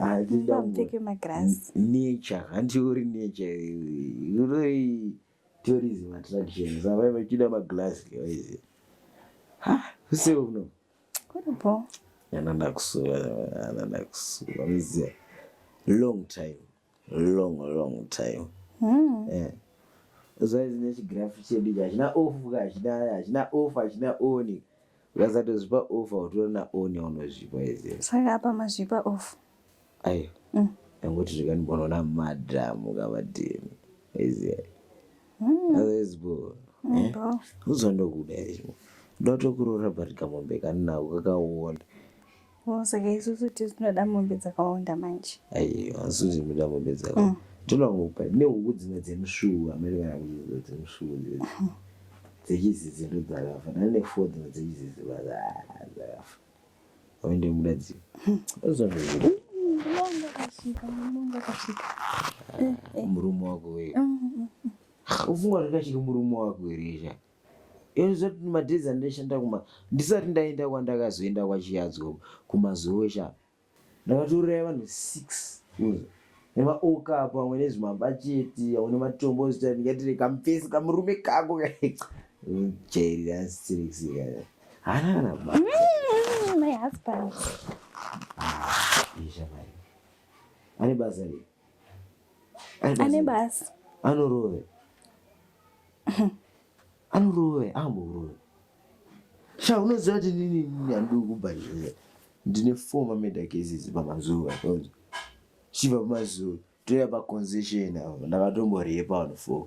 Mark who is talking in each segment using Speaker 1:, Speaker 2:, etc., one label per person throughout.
Speaker 1: Ah, Baba mupfeke magirazi. Nature, hanti uri nature. Uri tourism attraction. Saka vachida magirazi guys. Ha, use uno. Kuripo. Yana ndakusuva, yana ndakusuva. Mziya. Long time. Long long time. Mm. Eh. Zvaizine chigirafu chedu chachina off, chachina chachina off, chachina on. Ukasatozvipa off autora na on yaunozvipa izi. Saka apa mazvipa off. Ayo. Mm. Yanguti zvikanibona na madam ukavadini. Izi. Mm. Otherwise bro. Mm, eh? Bro. Uzondo kuda izvo. Ndotokurora but kamombe kanina ukakaona. Oh, saka isusu tinoda mombe dzakawanda manje aiwa isusu tinoda mombe dzaka mm. tinongopa nehuku dzimwe dzemusvuu amene kana kuchiziva dzemusvuu dzechizizi ndo dzakafa nani nefo dzimwe dzechizizi dzakafa aende muda dzii murume wako uye ufunga zvakachiri murume wako here izvaa Inozoti madhezi andaishanda kuma ndisati ndaenda kwandakazoenda kwachiyadzo kumazuve sha ndakatouraya vanhu six nemaokapu amwe nezvimabacheti amwe nematombo zita ndingatire kamufesi kamurume kako jairira asisirikisika hana kana ba mm, my husband ah, ane basa rei ane basa anorove anorove amborove sha unoziva kuti nini nini andii kubhadhara ndine four mameda cases pamazuva chiva pamazuva toya paconzession avo ndakatomborepa vanhu four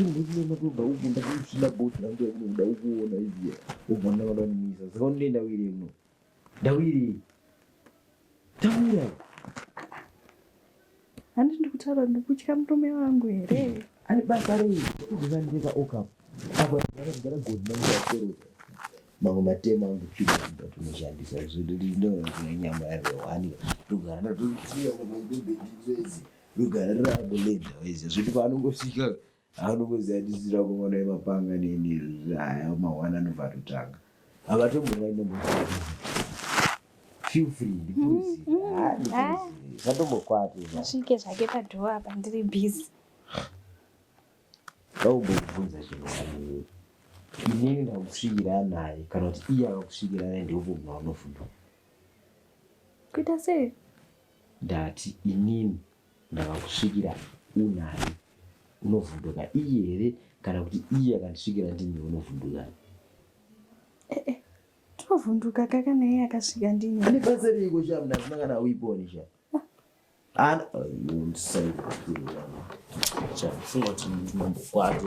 Speaker 1: ndinonotoda uku ndakuchina goti rangu yakuno kuda ukuona iziya ubva ndavada kumisa saka unene ndawire muno ndawire ndawira handi ndikutaura ndikutya murume wangu here ane basa rei ndikuzandika okap apa ndakagara goti nanguakeroza mamwe matema angu chii ndatinoshandisa zvindoona nyama yavewanika ndogara ndatotiya mabendendizezi rugare rako lenda wese zvoti paanongosvika anongoziva ndisira kungona yemapanga nini aya mahwana anobva atotanga havatombonainomo feel free ndikuzivatombokwati mm, mm, ah, asvike zvake padhoo apa ndiri busy vaumbokubvunza chinhu wani inini ndakusvikira naye kana kuti iye akakusvikira naye ndiopo munhu anofunga kuita sei Ndati inini ndakakusvikira unani unovhunduka iye here kana kuti iye akandisvikira ndini unovhunduka eh, eh. tinovhunduka ka kana iye akasvika ndini ane basa reiko sha mna zina kana uiponi sha ana chafunga kuti mambokwati